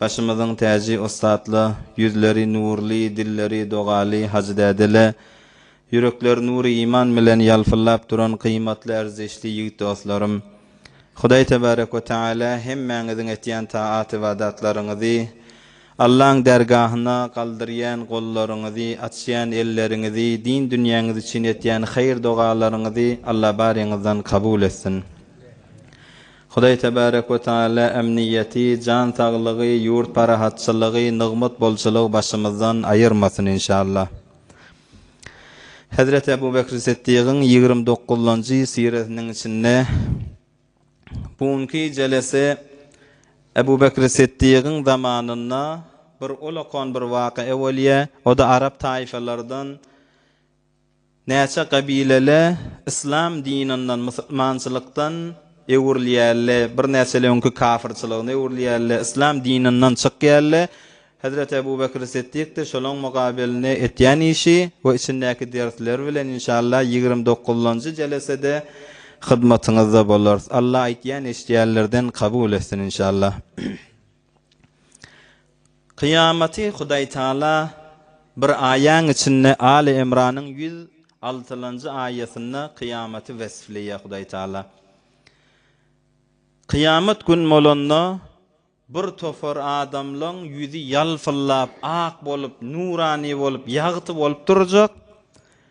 Başymyzyň täji ussatla, Ýüzleri nurly, dilleri dogaly hajy dädele, ýürekleri nury iman bilen ýalpyllap duran gyýmatly erzişli ýigit dostlarym! Hudaý tebarek we taala hemmäňiziň etýän taat-ybadatlaryňyzy, Allaň därgahyna galdyrýan gollaryňyzy, açýan elleriňizi, din dünýäňiz üçin etýän haýyr-dogalaryňyzy Alla baryňyzdan kabul etsin! Hudaý Tebarek we Teala emniýeti, jan saglygy, ýurt parahatçylygy, nygmat bolçulygy başymyzdan aýyrmasyn inşallah. Hezreti Ebu Bekri Siddigiň ýigrimi dokuzynjy siresiniň içinde bu günki jelese Ebu Bekri Siddigiň zamanynda bir olakan bir waka bolýar, o-da arap taýfalardan, Näçe gabilele yslam dininden musulmançylykdan öwrülýärle birnäçeli öňki kafyrçylygyna öwrülýärle yslam dininden çykýarle Hezreti Ebu Bekri Siddikdir şolaň mugabelinde etýän işi we içindäki dersleri bilen inşallah ýigrimi dokuzynjy jelesede hyzmatyňyzda bolarys Alla aýtýan eşidýänlerden kabul etsin inşallah. Kyýamaty Hudaýtagala bir aýaň içinde Aly Imranyň ýüz altylanjy aýatynda kyýamaty wesfleýär Hudaýtagala. Kyýamat gün bolanda bir topar adamlaň ýüzi ýalpyllap, ak bolup, nurany bolup, ýagty bolup durjak.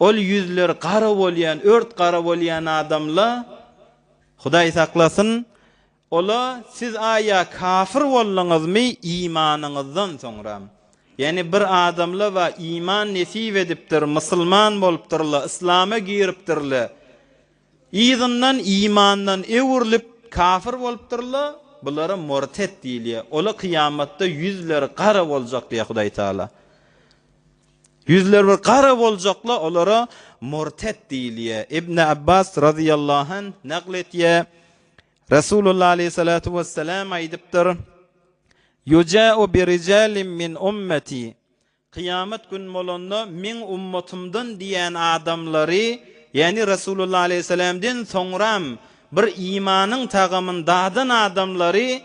Ol ýüzleri gara bolýan, ört gara bolýan adamla, Hudaý saklasyn, ola siz aýa kafir bolduňyzmy imanyňyzdan soňra? Ýagny bir adamla wa iman nesip edipdir, musulman bolupdyrla, yslama giripdirle, yzyndan imandan öwrülip kafir bolupdyrla, bulara mortet diýilýär. Ola kyýamatda ýüzleri gara boljak diýýär Hudaý Taala. Ýüzleri bir gara boljakla olara murtet diýilýä. Ibn Abbas razyýallahu anh nakl etýä, Resulullah aleýhissalatu wessalam aýdypdyr, Ýuja'u bi rijalim min ummeti, Kyýamat gün bolanda meň ummatymdan diýen adamlary, ýagny Resulullah aleýhissalamden soňram bir imanyň tagamyn dadan adamlary,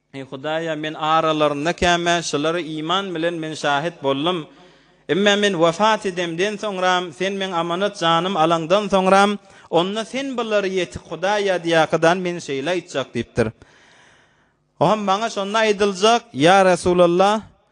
Eý, Hudaýa, men aralarynda kämä şulara iman bilen men şahit boldum. Emma men wepat edemden soňram, Sen meň amanat janym alaňdan soňram, onda Sen bulary ýetik Hudaý ýadýakydan men şeýle aýtjak diýipdir. Oňa maňa şonda aýdyljak, Ýa Resulallah,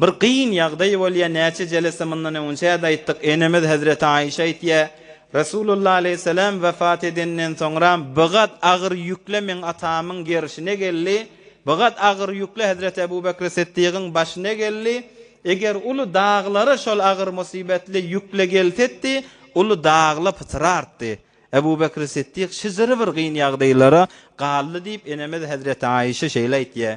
Bir kyn ýagdaý bolýar, näçe jelese mundan öňünçä-de aýtdyk, enemiz hezreti Aýşa aýtýar, Resulullah aleýhissalam wepat edenden soňra bigat agyr ýükle meň atamyň gerşine geldi, bigat agyr ýükle hezreti Ebu Bekri Siddigyň başyna geldi, eger uly daglara şol agyr musybetli ýükle gelsetdi, uly dagla pytrartdy. Ebu Bekri Siddik şjre bir kyn ýagdaýlara galdy diýip, enemiz hezreti Aýşa şeýle aýtýar.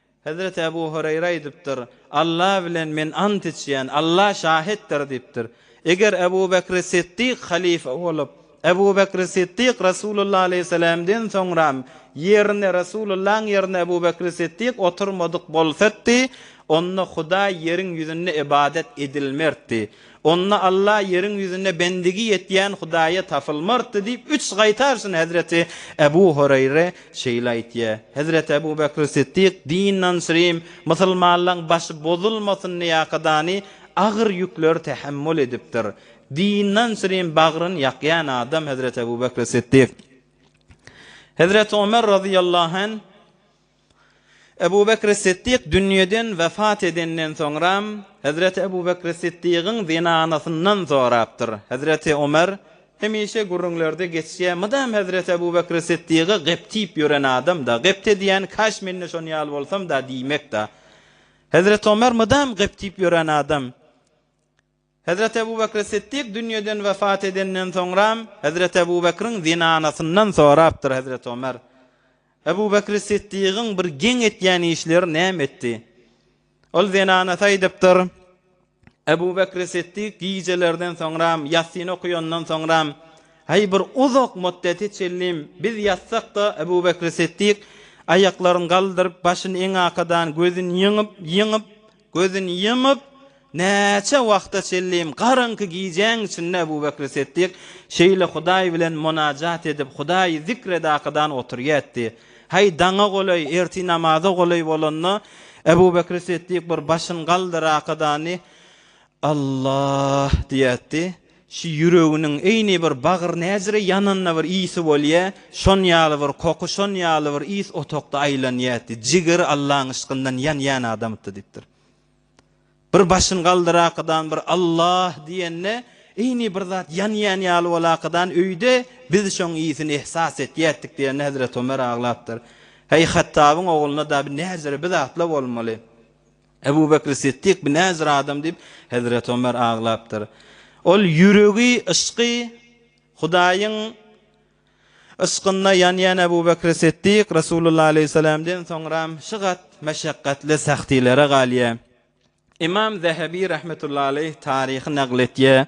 Hezreti Ebu Hureýre aýdypdyr, Alla bilen men ant içýän, Alla şahitdir diýipdir. Eger Ebu Bekri Siddik halyfa bolup, Ebu Bekri Siddik Resulullah aleýhissalamden soňram ýerine Resulullahyň ýerine Ebu Bekri Siddik oturmadyk bolsatdy, onda Hudaý ýeriň ýüzünde ybadat edilmertdi. Onda Alla ýeriň ýüzünde bendigi ýetýän Hudaýa tapylmardy diýip, üç gaýtarşyna hezreti Ebu Hureýre şeýle aýtýar. Hezreti Ebu Bekr Siddik, Dinden syrym, musulmanlaryň başy bozulmasyn diýäkadany agyr ýükleri tähemmül edipdir. Dinden syrym bagryny ýakýan adam hezreti Ebu Bekr Siddik. Hezreti Omer razyýallahu anh. Ebu Bekr-i Siddik dünýeden wepat edenden soňram, hezreti Ebu Bekr-i Siddigiň zenanasyndan sorapdyr. Hezreti Ömer, Hemişe gürrüňlerde geçýär, mydam hezreti Ebu Bekr-i Siddiga gybt diýip ýören adam-da, gybt edýän, kaş men-de şon ýaly bolsam-da diýmek-dä. Hezreti Ömer mydam gybt diýip ýören adam. Hezreti Ebu Bekri Siddik dünýeden wepat edenden soňram, Hezreti Ebu Bekriň zenanasyndan sorapdyr Hezreti Omer, Ebu Bekri Siddigiň bir geň etýän işleri näme etdi? Ol zenanasy aýdypdyr, Ebu Bekri Siddik gijelerden soňram, ýassyny okaýandan soňram, Häý, bir uzak muddete çenli biz ýatsak-da, Ebu Bekri Siddik aýaklaryny galdyryp, başyny eňakadan, gözüni ýyňyp, ýyňyp, Gözüni ýumup, näçe wagta çenlem garaňky gijäň içinde Ebu Bekri Setdyk şeýle Hudaý bilen munajat edip, Hudaýy zikr edakadan oturýatdy. Häý, daňa golaý, ertir namaza golaý bolanda, Ebu Bekri Setdyk bir başyny galdyrakadan, Allah! diýäýdi. Şu ýüreginiň eýni bir bagyr näjire ýananda bir ysy bolýa, şon ýaly bir koky, şon ýaly bir ys otagda aýlanýaýdi. Jigeri Allaň yşkyndan ýanýan adamytdy diýipdir. Bir başyny galdyrakadan bir Allah! diýende, eýni bir zat ýanýan ýaly bolakadan öýde, biz şoň ysyny ehsas etýäýtdik diýende Hezreti Omer aglapdyr. Heý, Hattabyň ogluna-da bir näjire bir zatla bolmaly. Ebu Bekri Siddik bi näzir adam diýip, hezreti Ömer aglapdyr. Ol ýüregi, yşky Hudaýyň yşkynda ýanýan Ebu Bekri Siddik, Resulullah aleýhissalamden soňram şygat meşekgatly sähtilere galýar. Ymam Zehebi rahmetullahi aleýh taryhy nagl etýär.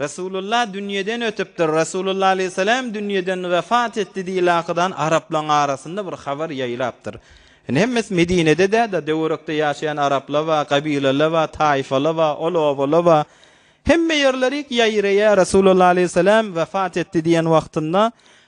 Resulullah dünýeden ötüpdir, Resulullah aleýhissalam dünýeden wepat etdi diýen lakydan araplaň arasynda bir habar ýaýlapdyr. Indi hemmesi Medinede däda döwerekde ýaşaýan arapla ba, gabilala ba, taýfala ba, ol obala ba. Hemme ýerlerik ýaýraýa Resulullah aleýhissalam wepat etdi diýen wagtynda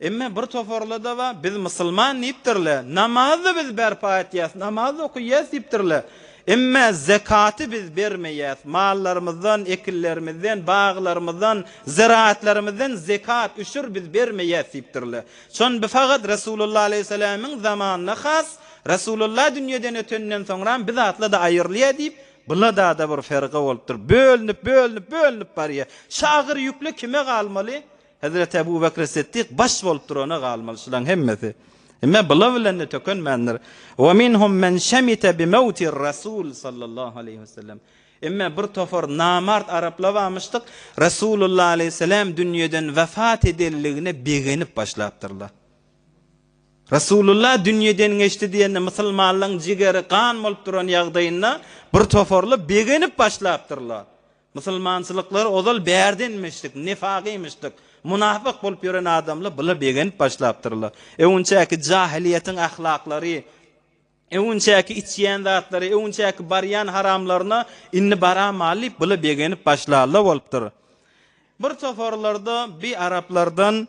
Emma bir toparlar da bar, biz musulman diýipdirler, namaz-da biz berpa etýäs, namaz-da okaýas diýipdirler. Emma zekaty biz bermeýäs, mallarymyzdan, ekinlerimizden, baglarymyzdan, zyraatlarymyzdan zekat, üşür biz bermeýäs diýipdirler. Şony biz fakat Resulullah aleýhissalamyň zamanynda has, Resulullah dünýeden ötenden soňra biz zatlar-da aýyrylýar diýip, bula-da-da bir ferga bolupdyr, bölünip, bölünip, bölünip barýar. Şu agyr ýükle kime galmaly? Hezreti Ebu Bekri Siddik baş bolup durana galmaly şulaň hemmesi. Emme bula bilen-de tökenmändir. Ve minhum men şemite bi mewtir Resul sallallahu aleyhi ve sellem. Emme bir topar namart arapla bamyşdyk, Resulullah aleyhi selam dünýeden vefat edenligine begenip başlapdyrlar. Resulullah dünýeden geçdi diýende musulmanlaň jigeri gan bolup duran ýagdaýynda bir toparly begenip başlapdyrlar. Musulmançylyklar ozal bärdenmişdik, nifagymyşdyk, munafyk bolup ýören adamlar bula begenip başlapdyrlar. Öwünçäki jahylyýetiň ahlaklary, öwünçäki içýän zatlary, öwünçäki barýan haramlaryna indi baramaly diýip bula begenip başlarlar bolupdyr. Bir toparlarda bi araplardan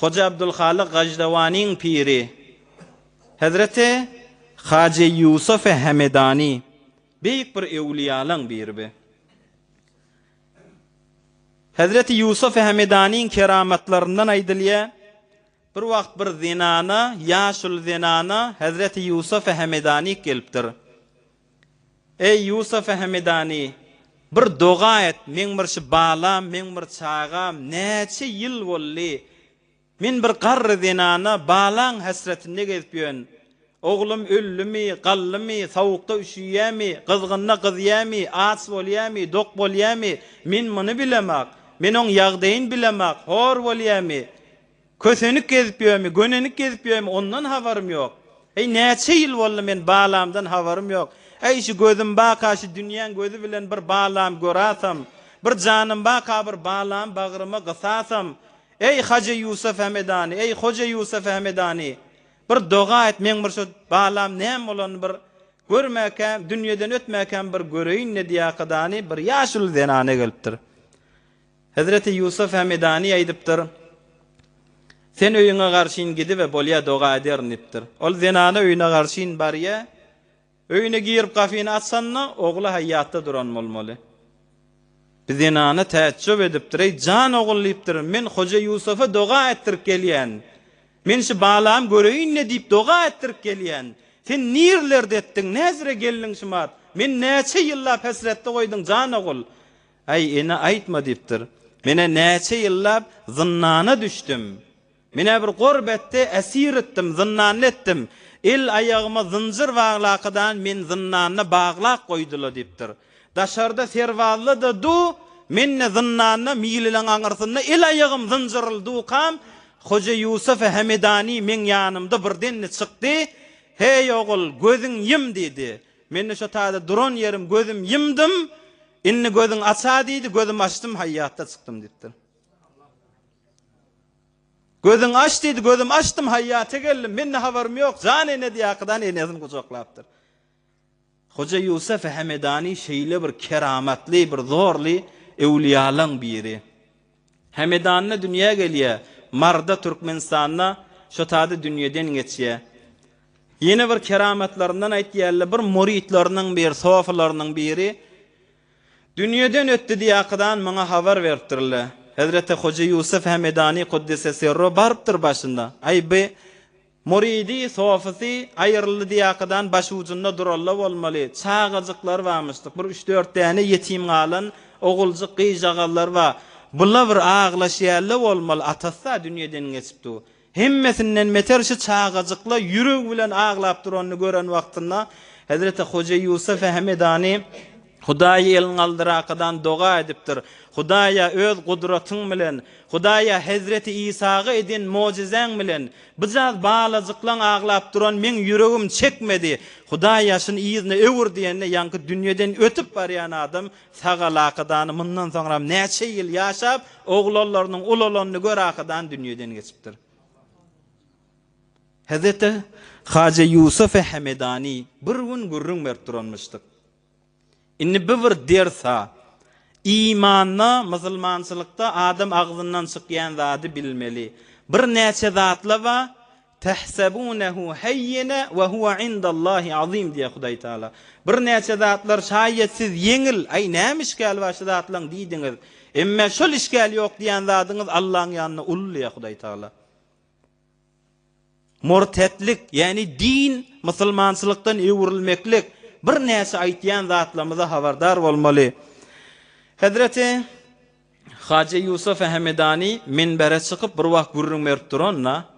Hoja Abdulhalyk Gajdawanyň piri hezreti Hajy Ýusufi Hemedany beýik bir öwliýalaň birbi. Hezreti Ýusufi Hemedanyň keramatlaryndan aýdylýa, bir wagt bir zenana, ýaşuly zenana hezreti Ýusufi Hemedanyk gelipdir. Eý, Ýusuf Hemedany, bir doga et, meň bir şu balam, meň bir çagam näçe ýyl boldy, men bir garry zenana balaň häsretinde gezip ýörün. Oglum öldümi, galdymy, sowukda üşüýärmi, gyzgynda gyzýarmy, aç bolýarmy, dok bolýarmy, men muny bilemok, men oň ýagdaýyny bilemok, hor bolýarmy? Kösenik gezip ýörmi, gönenik gezip ýörmi, ondan habarym ýok. Heý, näçe ýyl boldy, men balamdan habarym ýok. Äý, şu gözüm baka şu dünýäň gözi bilen bir balam görasam, bir janym baka bir balam bagryma gysasam, Eý, Haja Ýusuf Hemedany, eý, Hoja Ýusuf Hemedany, bir doga et, meň bir şu balam näme bolanyny bir görmäkäm, dünýeden ötmäkäm bir göreýin-le diýäkadany bir ýaşuly zenana gelipdir. Hezreti Ýusuf Hemedany aýdypdyr, Sen öýüňe garşyn gidibe, bolýa, doga ederin diýipdir. Ol zenany öýüne garşyn barýa. Öýüne girip gapyny açanda, ogly haýýatda duran bolmaly. Bi zenana täjjüp edipdir, Eý, jan ogul diýipdir, men Hoja Ýusufa doga etdirip gelýän. Men şu balamy göreýin-le diýip doga etdirip gelýän. Sen nirlerde etdiň, näzire geldiň şumat? Meni näçe ýyllap hesretde goýduň, jan ogul? Aý, ene aýtma diýipdir. Men-ä näçe ýyllap zyndana düşdüm. Men-ä bir gorbetde esir etdim, zyndanly etdim. El-aýagyma zynjyr baglakydany meni zyndanda baglap goýdular diýipdir. Daşarda serbazlar-da du, men-de zyndanda milileň aňyrsynda el-aýagym zynjyrly dukam, Hoja Ýusufa Hemedani meň ýanymda birdenli çykdy, Heý, ogul, gözüň ýum! diýdi. Men-de şo taýda duran ýerim gözüm ýymdym, indi gözüň aç-a diýdi, gözüm açdym, haýýatda çykdym diýipdir. Gözüň aç diýdi, gözüm açdym, haýýata geldim, men-de habarym ýok, jan ene diýäkidan enesini gujaklapdyr. Hoja Ýusuf Hemedany şeýle bir keramatly, bir zorly öwlüýalaň biri. Hämedanda dünýä gelýä, Marda Türkmenistanda şo taýda dünýeden geçýä. Ýene bir keramatlaryndan aýtýarlar, bir muritleriniň bir sofylarynyň biri dünýeden ötdi diýäkydan muňa habar beripdirler. Hezreti Hoja Ýusuf Hämedany Kuddise Sirru barypdyr başynda, Aý, bi Muridi, sofisi, aýryldy diýäkadan başujunda duralla bolmaly, çagajyklar barmyşdyk, bir üç-dört däne ýetim galan oguljyk gyzjagazlar bar, bula bir aglaş ýälle bolmaly, atasy-a dünýeden geçip dur. Hemmesinden beter şu çagajykla ýüregi bilen aglap duranyny gören wagtynda Hezreti Hoja Ýusup Hemedany Hudaýy elňaldyrakadan doga edipdir. Hudaýa Öz gudratyň bilen, Hudaýa Hezreti Isaga eden mojizäň bilen, Bujaz balajyklaň aglap duran meň ýüregim çekmedi, Hudaý ýaşyn yzyna öwür diýende ýaňky dünýeden ötüp barýan adam sagalakadany mundan soňram näçe ýyl ýaşap oglanlarynyň ulalanyny görakadan dünýeden geçipdir. Hezreti Haja Ýusufe Hemedani bir gün gürrüň berip duranmyşdyk. Indi bu bir ders-ha. Imanda, musulmançylykda adam agzyndan çykýan zady bilmeli. Birnäçe zatla bar, Tahsabunahu hayyina wa huwa indallahi azim diýýär Hudaý Taala. Birnäçe zatlar şaýýet siz ýeňil, aý näme işgäli bar şu zatlaň diýdiňiz. Emma şol işgäli ýok diýýän zadyňyz Allaň ýanynda uly diýýär Hudaý Taala. Murtetlik, ýagny din, musulmançylykdan öwrülmeklik, birnäçe aýtýan zatlarymyza habardar bolmaly. Hezreti Haja Ýusufa Hemedani minbere çykyp bir wagt gürrüň berip duranda,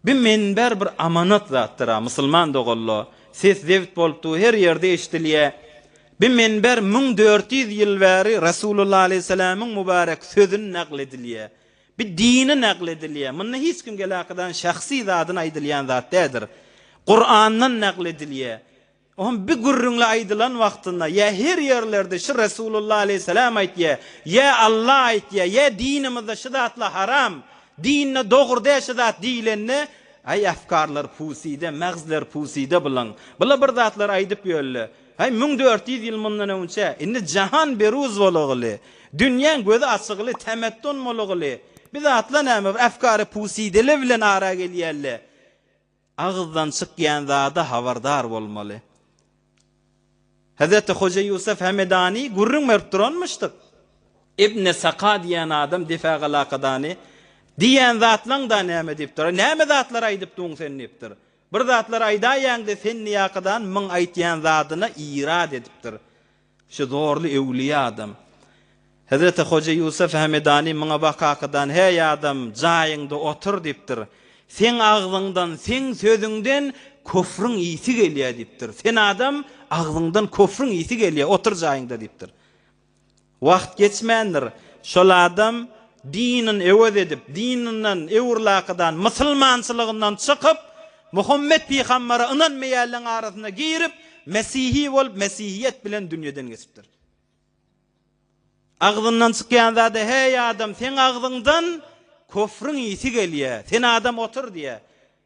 Bi minber bir amanat zatdyr-a, musulman doganlar, ses zebt bolup dur, her ýerde eşidilýär. Bi minber müň dört ýüz ýyl bäri Resulullah aleýhissalamyň mübarek sözüni nagl edilýär. Bir dini nagl edilýär. Munda hiç kim gelakydan şahsy zadyny aýdylýan zat däldir. Kurandan nagl edilýär. O hem bir gürrüňli aýdylan wagtynda, ýa her ýerlerde şu Resulullah aleýhissalam aýtýar, ýa Alla aýtýar, ýa dinimizde şu zatlar haram, dinde dogry däl şu zat diýlende, Aý afkarlar pusida, magzler pusida bulaň. Bular bir zatlar aýdyp ýörler. Häý, müň dört ýüz ýyl mundan öňçä, indi jahan beruz bolagyly, dünýäň gözi açygyly, temettun bolagyly, bi zatlar näme, bir efkary pusydele bilen ara gelýäl-le, agyzdan çykýan zada habardar bolmaly. Hezreti Hoja Ýusuf Hemedany gürrüň berip duranmyşdyk. Ibni Saka diýen adam Defagalakadany, Diýýän zatlaň-da näme diýipdir. Näme zatlar aýdypdyň sen diýipdir. Bir zatlar aýdaýaňde senniýakadan myň aýtýan zadyna irad edipdir şu zorly öwlüýä adam. Hezreti Hoja Ýusuf Hemedani myňa bakakadan heý adam jaýyňda otur diýipdir. Seň agzyňdan, seň sözüňden köfrüň ysy gelýä diýipdir. Sen adam agzyňdan köfrüň ysy gelýä otur jaýyňda diýipdir. Wagt geçmändir, şol adam dinini öwez edip, dininden öwrlakydan, mysylmançylygyndan çykyp, Muhammet pygambere ynanmaýanlaryň arasyna girip, mesihi bolup, mesihiýet bilen dünýeden geçipdir. Agzyndan çykýan zady, Heý adam, seň agzyňdan köfrüň ysy gelýär, sen adam otur diýýär.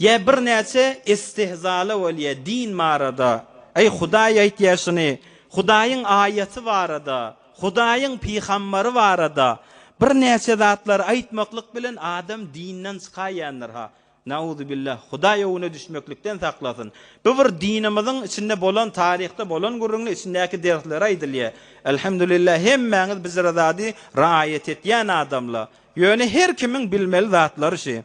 Ýa birnäçe istehzaly bolýa din barada, Aý Hudaý aýtýa şuny, Hudaýyň aýaty barada, Hudaýyň pygambary barada birnäçe zatlary aýtmaklyk bilen adam dinden çykaýandyr ha. Nauzubillah, Hudaý öwüne düşmeklikden saklasyn. Bu bir dinimiziň içinde bolan taryhda bolan gürrüňde içindäki dersleri aýdylýa. Elhamdulillah hemmäňiz bizre zady raýat etýän adamla. Ýöne her kimiň bilmeli zatlary şi.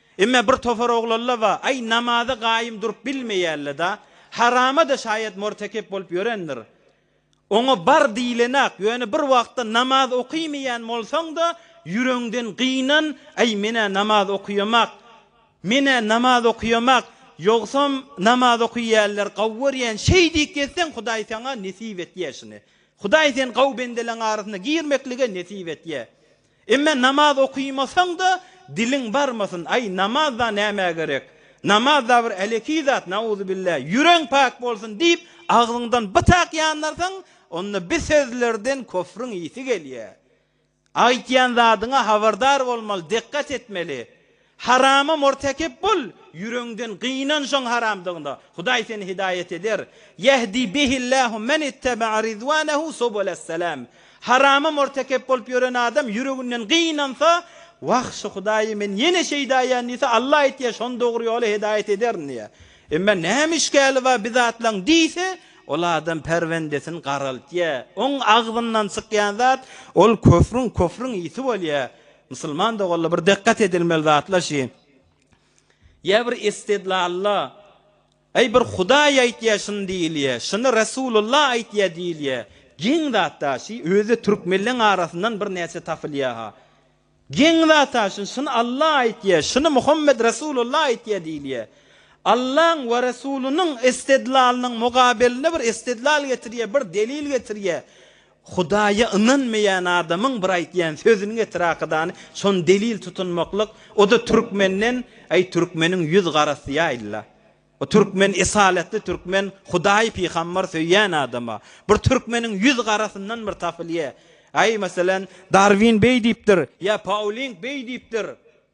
Emme bir topar oglalla ba, aý namaza gaýym durup bilmeýälleda, harama-da şaýat mortekep bolup ýörendir. Oňa bar diýlenak, ýöne bir wagtda namaz okymeýän bolsaň-da, ýüregiňden gynan, aý men-ä namaz okyýamak, men-ä namaz okyýamak, ýogsam namaz okyýäller gawy görýän şeý diýip gezseň Hudaý saňa nesip etýä şuny. Hudaý sen gawy bendeleň arasyna girmeklige nesip etýä. Emme namaz okymasaň-da diliň barmasyn, aý namaz-da nämä gerek, namaz-da bir äleki zat, nauzubilla, ýüregiň pak bolsun diýip agzyňdan bytak ýandyrsaň, onda bi sözlerden köfrüň ysy gelýär. Aýtýan zadyňa habardar bolmaly, dikgat etmeli. Harama mortekep bol, ýüreňden gynan şoň haramdygyna, Hudaý seni hidaýat eder, Ýehdi bihillâhu men ittebaa ridwânehu subulesselâm, Harama mortekep bolup ýören adam ýüreginden gynansa, Wah, şu Hudaýy men ýene şeýde aýan diýse, Alla aýtýar, şony dogry ýola hidaýat ederin diýýär. Emma näme işgäli bar bi zatlaň diýse, ol adam perwendesini garaltýar. Oň agzyndan çykýan zat, ol köfrüň, küfrüň ysy bolýar. Musulman doganlar bir dykgat edilmeli zatlar şi, ýa bir istidlalla, Aý bir Hudaý aýtýa şuny diýilýä, şuny Resulullah aýtýa diýilýä, geň zatda şi, özi türkmenleň arasyndan bir näçe tapylýaha. Geň zatda şuny, şuny Alla aýtýa, şuny Muhammet Resulullah aýtýa diýilýä. Allaň we Resulynyň istidlalynyň mugabelinde bir istidlal getirýä, bir delil getirýä. Hudaýa ynanmaýan adamyň bir aýtýan sözüniň etrahydany şony delil tutunmaklyk, o-da türkmenden, Aý, türkmeniň ýüz garasy ýaýyl-la. O türkmen esalatly türkmen Hudaý pygambar söýýän adama. Bir türkmeniň ýüz garasyndan bir tapylýa. Aý, meselem, Darwin beý diýipdir, ýa Pauling beý diýipdir.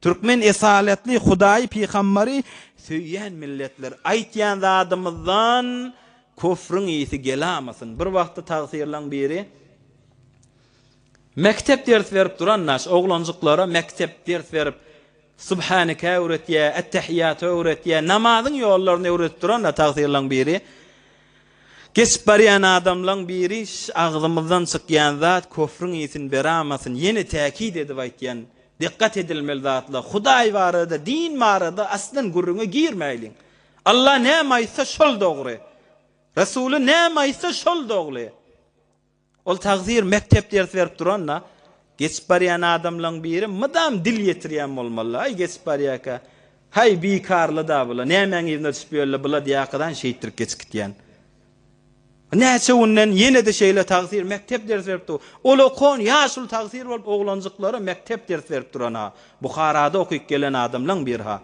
Türkmen esaletli Hudaýy Pygambary söýýän milletler aýtýan zadymyzdan küfrüň ysy gelamasyn. Bir wagtda tagsyrlaň biri Mekdep ders berip duran naş oglanjyklara mekdep ders berip Subhaneke öwretýä, Ettehiýaty öwretýä, namazyň ýollaryny öwredip duran tagsyrlaň biri Geçip barýan adamlaň biri şş agzymyzdan çykýan zat köfrüň isin beramasyn ýene täkit edip aýtýan dikkat edilmeli zatlar hudaý barada din barada aslan gürrüňe girmäýliň Allah näme aýtsa şol dogry Resuly näme aýtsa şol dogly. Ol tagsyr mekdep ders berip duranda, geçip barýan adamlaň biri mydam dil ýetirýän bolmaly, Aý, geçip barýarka, Haý, bikarly-da bula, nämäň yzyna düşüp ýörle, bula diýarkadan şeýtdirip geçip gitýän. Näçe günden ýene-de şeýle tagsyr mekdep ders berip dur. Ol okan ýaşuly tagsyr bolup oglanjyklara mekdep ders berip duran-ha, Buharada okyp gelen adamlaň biri-ha.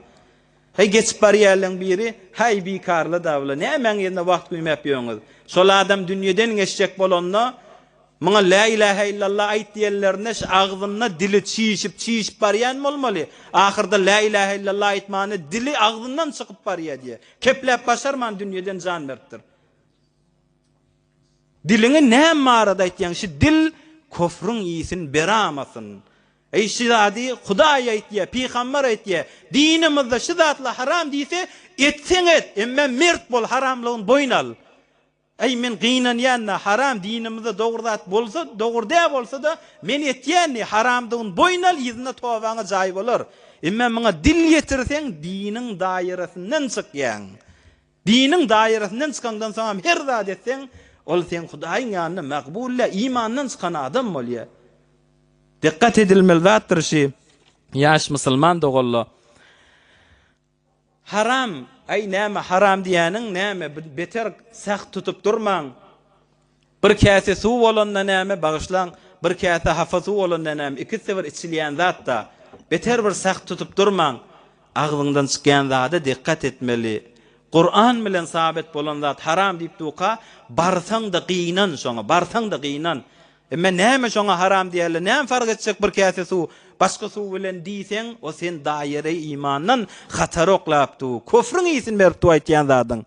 Heý, geçip barýarlaň biri, Häý, bikarly dabla, nämäň ýerine wagt güýmäp ýörüňiz? Şol adam dünýeden geçjek bolanda, muňa Lä ilähä illallah aýt diýenlerinde, şu agzynda dili çişip, çişip barýan bolmaly. Ahyrda Lä ilähä illallah aýtmany dili agzyndan çykyp barýar diýýär. Kepläp başarman dünýeden jan beripdir. Diliňi näme barada aýtýaň, şi dil köfrüň iýsin beramasyn. Eý şi zady Hudaý aýtýa, pygamber aýtýa, dinimizde şi zatla haram diýse, etseň et, emme mert bol haramlygyny boýun al. Eý men gynanýanda haram dinimizde dogry zat bolsa, dogry dä bolsada men etýän diý, haramdygyny boýun al yzyna tobaňa jaý bolar. Emme muňa dil ýetirseň diniň daýyrasyndan çykýaň. Diniň dairesinden çykaňdan soňam her zat etseň, ol seň Hudaýyň ýanynda makbul däl, imandan çykan adam bolýar. Dykgat edilmeli zatdyr şi, ýaş musulman doganla, Haram, aý näme haram diýýäniň näme, beter sah tutup durmaň. Bir käse suw bolanda näme, bagyşlaň, bir käse hapa suw bolanda näme, ikisi-de bir içilýän zat-da. Beter bir sag tutup durmaň. Agzyňdan çykýan zada dikkat etmeli. Kuran bilen sabit bolan zat haram diýip duka, barsaň-da gynan şoňa, barsaň-da gynan. Emma näme şoňa haram diýerler, näme fark etjek bir käse suw, başga suw bilen diýseň, o sen daýyry imandan hatara oklapdu, köfrüň ysyn beripdu aýtýan zadyň.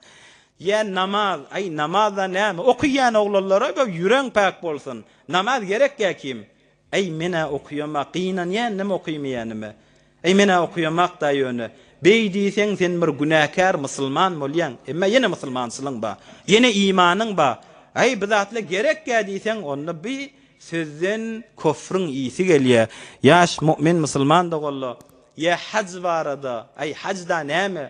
Ýa namaz, aý namazda näme okyýan oglanlara göw ýüreň päk bolsun, namaz gerekýä kim, aý menä okyýamak gynanýandym okymaýanyma, aý menä okyýamakda ýöne, beý diýseň sen bir günäkär musulman bolýaň, emma ýene musulmançylyň ba, ýene imanyň ba, aý bu zatla gerekýä diýseň onda bi sözden köfrüň ýyýsi gelýä, ýaş mu'min musulman doganla, ýa haj barada, aý hajda näme,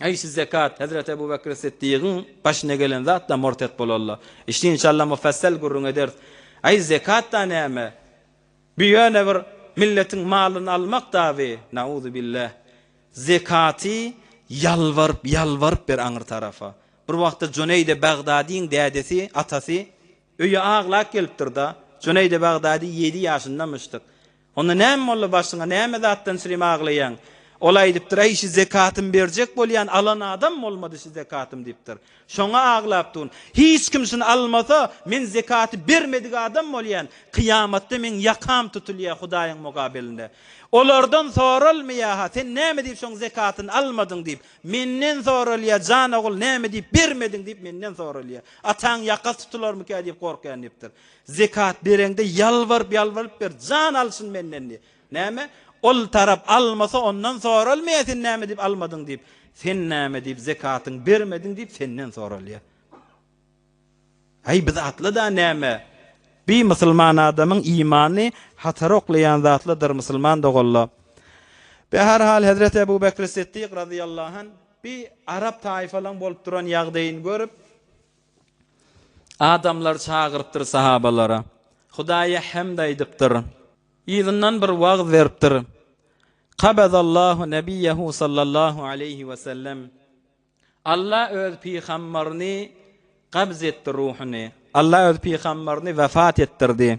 Eý siz zekat, hezreti Ebu Bekri Siddigyň başyna gelen zatdan murtet bolalla. Işini inşalla mufassal gürrüň ederis. Eý zekat-da näme? Bu ýöne bir milletiň malyny almak daby, nauzubilleh. Zekaty ýalbaryp, ýalbaryp ber aňry tarafa. Bir wagtda Juneýde Bagdadyň dädesi, atasy, öýe aglap gelipdir-da. Juneýde Bagdady ýedi ýaşyndamyşdyk. Onda näme boldy başyňa, näme zatdan sürem aglaýaň? Ol aýdypdyr, Äý, şu zekatym berjek bolýan alan adam bolmady şu zekatym diýipdir. Şoňa aglapdun. Hiç kim şuny almasa, men zekaty bermedik adam bolýan. Kyýamatda meň ýakam tutulýa Hudaýyň mugabelinde. Olardan soralmaýa-ha, sen näme diýip şoň zekatyny almadyň diýip. Menden soralýa, jan ogul, näme diýip bermediň diýip menden soralýa. Ataň ýakasy tutularmyka diýip gorkýan diýipdir. Zekat bereňde ýalbaryp ýalbaryp ber, jan alsyn menden diý. Näme? Ol tarap almasa ondan soralmaýar sen näme edip almadyň diýip. Sen näme diýip zekatyň bermediň diýip senden soralýar. Aý biz atlyda näme? Bi musulman adamyň imany hatara oklaýan zatlydyr musulman doganlar. Be her hal Hezreti Ebu Bekri Siddik razyýallahu anh bi arap taýfalaň bolup duran ýagdaýyny görüp Adamlar çagyrypdyr sahabalara. Hudaýa hemd aýdypdyr. Yzyndan bir wagyz beripdir. Kabadallahu nebiyyehu sallallahu aleýhi we sellem. Alla öz pygammaryny gabz etdi ruhuny. Alla öz pygammaryny wefat etdirdi.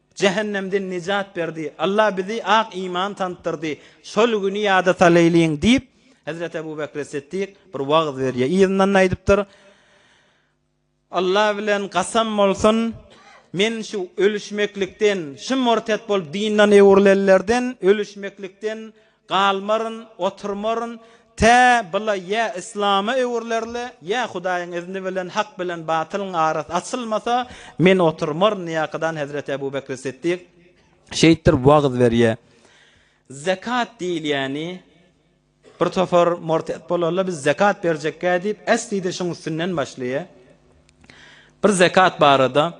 Jähennemden nejat berdi. Allah bizi ak iman tanydyrdy. Şol güni ýada salaýlyň, diýip, Hezreti Ebu Bekri Siddik bir wagyz berýär. Yzyndan-da aýdypdyr, Allah bilen gasam bolsun, men şu ölüşmeklikden, şu murtet bolup dindan öwrülenlerden, ölüşmeklikden Galmaryn, oturmaryn, tä, bula ýa yslama öwrülerle, ýa Hudaýyň izni bilen hak bilen batylyň arasy açylmasa, men oturmaryn diýäkadan Hezreti Ebu Bekri Siddik şeýtdir wagyz berýä. Zekat diýilýäni, bir topar mortet bolarlar, biz zekat berjekkä diýip, esli-de şuň üstünden başlaýa. Bir zekat barada.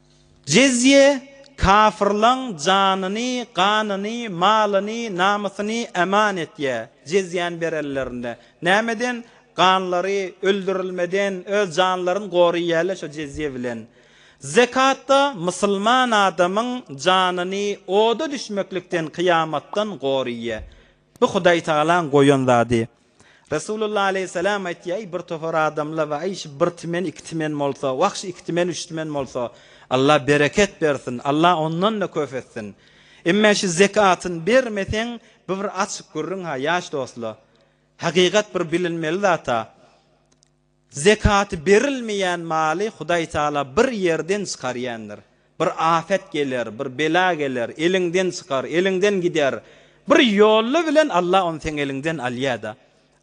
Jizýe, kafyrlaň janyny, ganyny, malyny, namysyny eman etýär. Jizýäni berenlerinde, nämeden? Ganlary, öldürilmeden, öz janlaryny goraýýarlar şo jizýe bilen. Zekatda, musulman adamyň janyny oda düşmeklikden, kyýamatdan goraýýar. Bu Hudaýtagalaň goýan zady. Resulullah aleýhissalam aýtýar, Eý, bir topar adamlar bar, eý, şu bir timen, iki timen bolsa, wah, şu iki timen, üç timen bolsa, Allah bereket bersin, Allah ondan-da köp etsin. Emma şu zekatyny bermeseň, bu bir açyk gürrüň-ha, ýaş dostlar. Hakykat bir bilinmeli zat-a. Zekaty berilmeýän maly Hudaý Taala bir ýerden çykarýandyr. Bir afet geler, bir bela geler, eliňden çykar, eliňden gider. Bir ýolla bilen Alla ony seň eliňden alýar-da.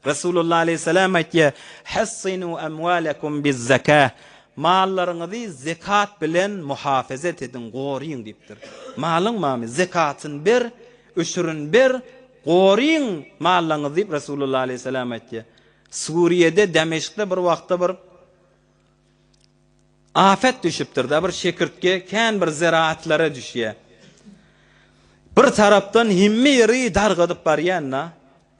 Resulullah aleýhissalam aýtýar, Hassinu amwalakum biz-zakah, Mallaryňyzy zekat bilen muhafazat ediň, goryň diýipdir. Malyň mamy, zekatyny ber, öçürin ber, goryň mallaňyzy diýip Resulullah aleýhissalam aýtýar. Suriýede Demeşkde bir wagtda bir afet düşüpdirda bir şekirtge kän bir zeraatlara düşýä. Bir tarapdan hemme ýeri dargadyp barýanda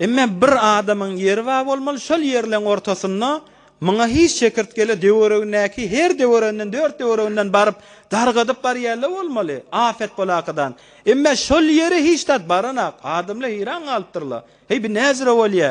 emme bir adamyň ýeri bar bolmaly şol ýerleň ortasynda muňa hiç şekirtgele döweregindäki her döwereginden dört döwereginden baryp dargadyp barýarlar bolmaly afet bolakadan emme şol ýere hiç zat baranak adamlar heýran galypdyrlar heý bu näjüre bolýa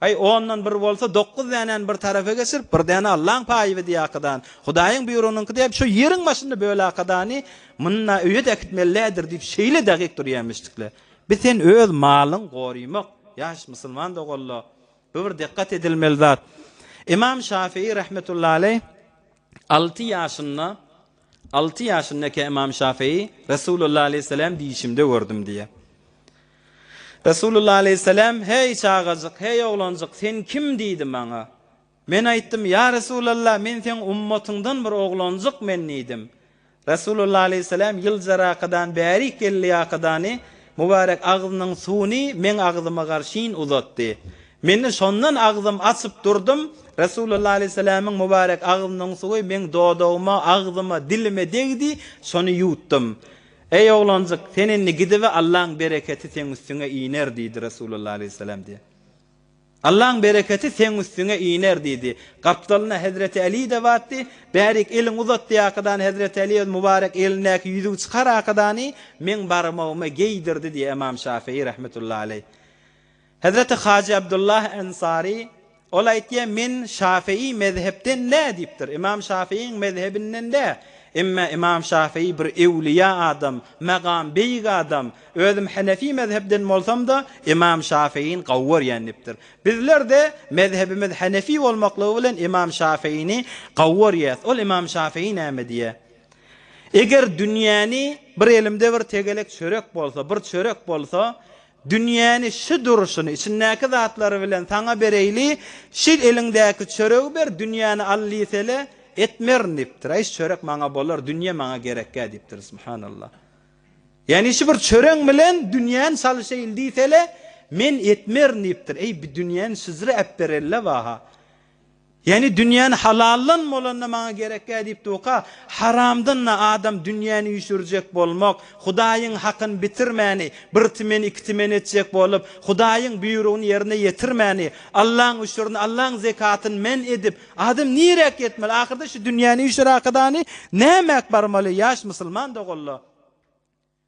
Aý, ondan bir bolsa, dokuz dänäni bir tarapa geçirip, bir däne Allaň paýy wideokadan, Hudaýyň býurunyňky diýip, şo ýeriň başynda bölakadany munda öýe-de äkitmelidir diýip, şeýle dakyk durýamyşdykla. Bi sen öz malyň gorymak, ýaş musulman doganlar, bu bir dikgat edilmeli zat. Ymam Şafyýy rahmetullahi aleýh alty ýaşynda, Alty ýaşyndaka Ymam Şafyý Resulullah aleýhissalam düýşümde gördüm diýýär. Resulullah aleýhissalam, Heý, çagajyk, heý, oglanjyk, sen kim? diýdi maňa. Men aýtdym, Ýa Resulallah, men seň ummatyňdan bir oglanjyk men diýdim. Resulullah aleýhissalam ýyljarakadan bärik geldiýakadany, mübarek agzynyň suwuny meň agzyma garşyn uzatdy. Men-de şondan agzym açyp durdum, Resulalla aleýhissalamyň mubarek agzynyň suwy meň dodagyma, agzyma, dilime degdi, şony ýuwtdym. Eý, oglanjyk, sen indi gidibe, Allaň bereketi seň üstüňe iner, diýdi Resulalla aleýhissalam diýen. Allaň bereketi seň üstüňe iner, diýdi. Gapdalynda hezreti Äli-de batdy. Bärik, eliňi uzat, diýdi Akydany hezreti Äli öz mubarek elindäki ýüzügi çykar Akydany meň barmagyma geýdirdi, diýdi Ymam Şafyýy rahmetullahi aleýh. Hezreti Hajy Abdullah Ensary, ol aýtýar, men Şafygy mezhepden dä diýipdir, Ymam Şafygyň mezhebinden dä, emme Ymam Şafygy bir ewliýa adam, magam beýik adam, özüm Henefi mezhepden bolsam-da, Ymam Şafygyny gowy görýän diýipdir. Bizler-de mezhebimiz Henefi bolmaklygy bilen Ymam Şafygyny gowy görýäs. Ol Ymam Şafygy näme diýýär? Eger dünýäni bir elimde bir tegelek çörek bolsa, bir çörek bolsa, Dünýäni şu durşuny, içindäki zatlary bilen saňa bereýli, şu eliňdäki çöregi ber, dünýäni al diýsele, etmerin diýipdir. Aý, şu çörek maňa bolar, dünýe maňa gerekgä diýipdir. Subhanallah. Ýagny şu bir çöreň bilen dünýäni çalyşaýyl diýsele, men etmerin diýipdir. Eý, bu dünýäni şuzre äpberelle waha. Ýagny dünýäni halaldan bolanda maňa gerekýär diýip durka, haramdan-da adam dünýäni üýşürjek bolmak, Hudaýyň hakyny bitirmäni, bir timen iki timen etjek bolup, Hudaýyň buýrugyny ýerine ýetirmäni, Allaň üşürini, Allaň zekatyny men edip, adam niräk ýetmeli? Ahyrda şu dünýäni üýşüräkadany nämäk barmaly, ýaş musulman doganlar?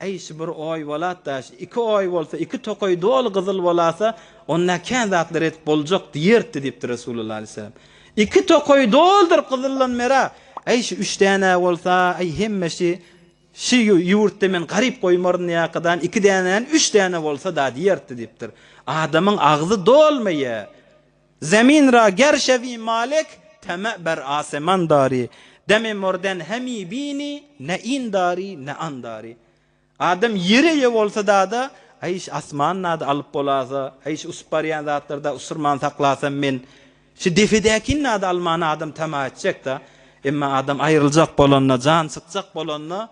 Äý, şu bir oý bolat-da, şu iki oý bolsa, iki tokaý doly gyzyl bolasa, onda kän zatlar edip boljak diýerdi diýipdir Resulullah aleýhissalam. Iki tokaý doludyr gyzyldan merä, äý, şu üç däne-ä bolsa, äý, hemme şu şu ýurtda men garyp goýmaryn diýýäkadan, iki dänäni üç däne bolsa-da diýerdi diýipdir. Adamyň agzy dolmaýa. Zemin ra ger şewi malik, teme ber aseman dari, deme morden hemi bini, ne in dari, ne an dari. Adam ýere ýe bolsa dada, aýş asman nada alyp bolasa, aýş usup barýan zatlar da usurman saklasam men, şu depedäkini nada almana adam tama etjek da, emma adam aýryljak bolanda, jan çykjak bolanda,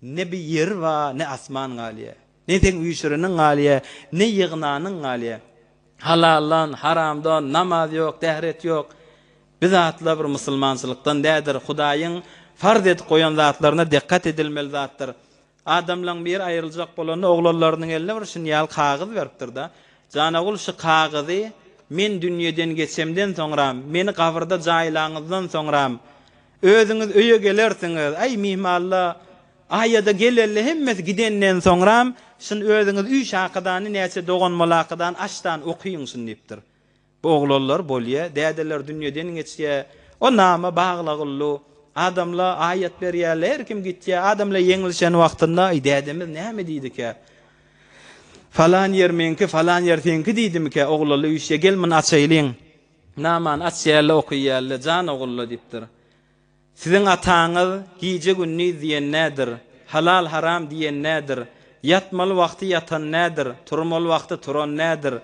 ne bir ýeri ba, ne asman galýa. Ne seň üýşüreniň galýa, ne ýygnanyň galýa. Halaldan, haramdan, namaz ýok, dähret ýok. Bi zatlar bir musulmançylykdan dädir. Hudaýyň farz edip goýan zatlaryna dikgat edilmeli zatdyr. Adamlaň biri aýryljak bolanda oglanlarynyň eline bir şun ýaly kagyz beripdir-de, Janagul şu kagyzy men dünýeden geçemden soňram, meni gabyrda jaýlaňyzdan soňram, Özüňiz öýe gelersiňiz. Aý, myhmalla, Aýa-da geleli hemmesi gidenden soňram, şun özüňiz üç hakydany näçe dogan molakydan aşdan okyň şun diýipdir. Bu oglanlar bolýa, dädeler dünýeden geçýä. O nama baglagyllu. Adamla aýat berýäle, her kim gitýä. Adamla ýeňlişen wagtynda, Aý, dädemiz näme diýdikä? Falan ýer meňki, falan ýer seňki diýdimikä? Oglanla üýşýä, gel, muny açaýlyň. Namany açýarly okyýarly, Jan ogulla diýipdir. Siziň ataňyz gije-gündiz diýen nädir, halal-haram diýen nädir, ýatmaly wagty ýatan nädir, turmaly wagty turan nädir,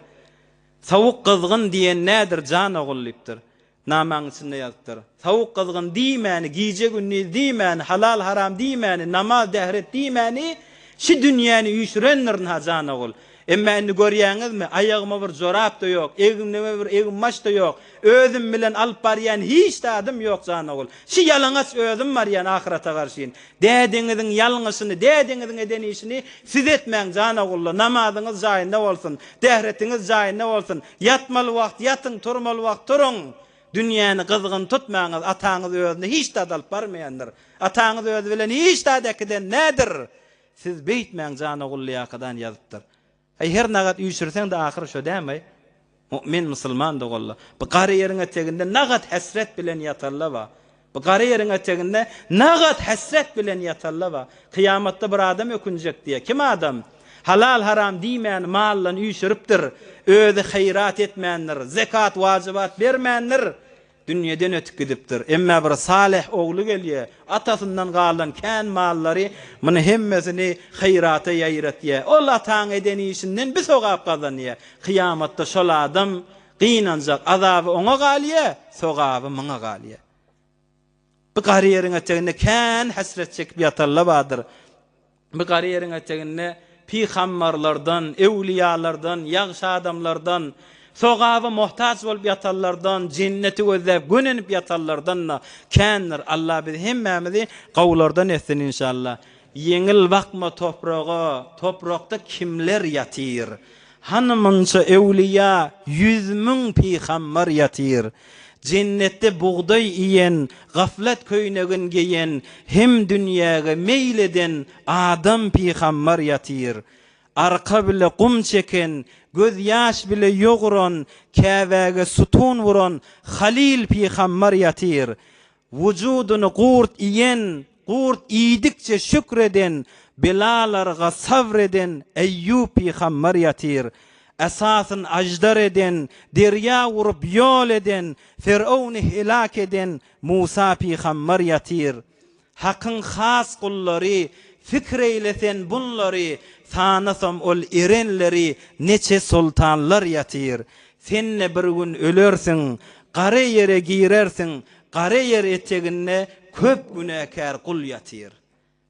sowuk-gyzgyn diýen nädir jan ogul diýipdir. Namaň içinde ýazypdyr. Tawuk gyzgyn diýmäni, gije gündiz diýmäni, halal haram diýmäni, namaz dähret diýmäni şi dünýäni üýşürendir ynha janogul. Emma indi görýäňizmi, aýagyma bir jorap-da ýok, egnime bir eginbaş-da ýok, özüm bilen alyp barýan hiç zadym ýok janogul. Şi ýalaňaç özüm barýan ahyrata garşyn. Dädeňiziň ýalňyşyny, dädeňiziň eden işini siz etmäň janogulla, namazyňyz jaýynda bolsun, dähretiňiz jaýynda bolsun, ýatmaly wagt ýatyň, turmaly wagt turuň. Dünýäni gyzgyn tutmaňyz, Ataňyz özüni hiç zat alyp barmaýandyr. Ataňyz özi bilen hiç zat äkiden nädir. Siz beýtmäň Janogullyýakadan ýazypdyr. Aý her nagat üýşürseň-de ahyry şo dämi? Mu'min musulman doganlar, bu gary ýeriň eteginde nagat hesret bilen ýatarla ba. Bu gara ýeriň eteginde nagat hesret bilen ýatalla ba. Kyýamatda bir adam ökünjek diýýä. Kim adam? Halal-haram diýmäni maldan üýşüripdir. Özi haýyrat etmändir. Zekat, wajybat bermändir. Dünýeden ötüp gidipdir. Emme bir salyh ogly gelýä. Atasyndan galan kän mallary muny hemmesini haýyrata ýaýratýa. Ol ataň eden işinden bi sogap gazanýa. Kyýamatda şol adam Gynanjak, azaby oňa galýa, sogaby myňa galýa. Bu gary ýeriň eteginde kän hesret çekip ýatanla bardyr. Bu gary ýeriň eteginde pygambarlardan, ewliýalardan, ýagşy adamlardan, sogaba mohtaç bolup ýatanlardan, jenneti gözläp gönenip ýatanlardan-da kändir. Allah bizi hemmämizi gowulardan etsin inşallah. Ýeňil bakma topraga, toprakda kimler ýatyr? Hany munça öwlüýä, ýüz müň pygambar ýatyr. Jennetde bugdaý iýen, gaflat köýnegin geýen hem dünýäge meýil eden adam pygambar ýatyr. Arka bile gum çeken, göz ýaş bile ýoguran, Käbäge sütun wuran halyl pygambar ýatyr. Wujudyny gurt iýen, gurt iýdikçe şükr eden, belalarga sabr eden Eýýup pygamber ýatyr. Esasyn aždar eden, derýa urup ýol eden, Firowny helak eden Musa pygamber ýatyr. Hakyň has gullary, fikr eýle sen bunlary, Sanasam ol erenleri, neçe soltanlar ýatyr. Sen-de bir gün ölersiň, gara ýere girersiň, gara ýer eteginde köp günäkär gul ýatyr.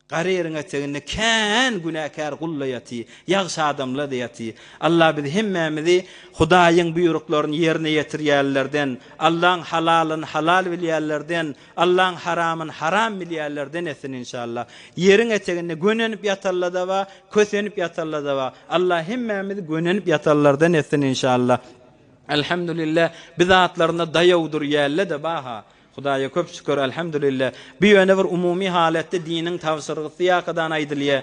Gara ýeriň eteginde kän günäkär gul-da ýaty, ýagşy adamlar-da ýaty. Allah bizi hemmämizi Hudaýyň buýruklaryny ýerine ýetirýänlerden, Allaň halalyny halal bilýänlerden, Allaň haramyn haram bilýärlerden etsin inşallah. Ýeriň eteginde gönenip ýatanlada bar, kösenip ýatanlada bar. Allah hemmämizi gönenip ýatanlardan etsin inşallah. Elhamdülillah biz atlarynda daýaw dur ýällede baha. Hudaýa köp şükür elhamdülillah. Bu ýöne bir umumy halatda diniň tabşyrgysy ýakadan aýdylýa.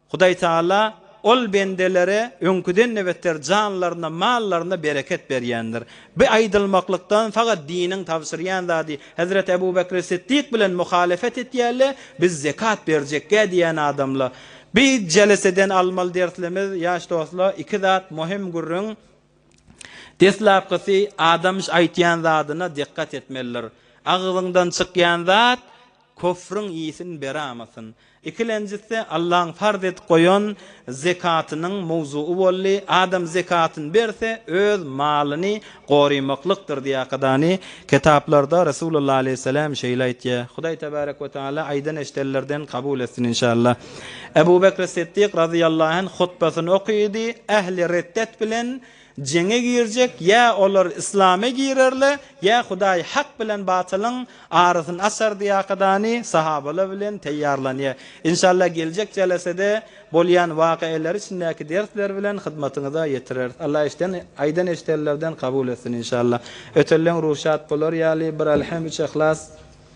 Hudaý Tagala Ol bendelere öňküden-de beter janlaryna, mallaryna bereket berýändir. Bu aýdylmaklykdan fakat diniň tabşyrýan zady, Hezreti Ebu Bekri Siddik bilen muhalefet etýärle, biz zekat berjekgä diýýän adamla. Bu jeleseden almaly derslimz, ýaş dostla, iki zat muhim gürrüň. Deslapkysy, adam aýtýan zadyna dikkat etmelidir. Agzyňdan çykýan zat Köfrüň isin beramasyn. Ikilenjisi Allaň farz edip goýan zekatynyň mowzugy boldy. Adam zekatyny berse, öz malyny gorymaklykdyr diýýäkadany. Kitaplarda Resulullah aleýhissalam şeýle aýtýa. Hudaý tebarek we taala aýdan eşdenlerden kabul etsin inşallah. Ebu Bekr Siddik razyýallahu anh hutbasyny okydy, ähli reddet bilen Jeňe girjek, ýa olar yslama girerle, ýa Hudaý hak bilen batylyň arasyny açar diýakadany sahabalar bilen taýýarlanýar. Inşallah geljek jelesede bolýan wakaeleri içindäki dersler bilen hyzmatyňyza ýetireris. Allah eşden aýdan eşdenlerden kabul etsin inşallah. Ötelleň ruhy şat bolar ýaly bir Elhem üç Ehlas.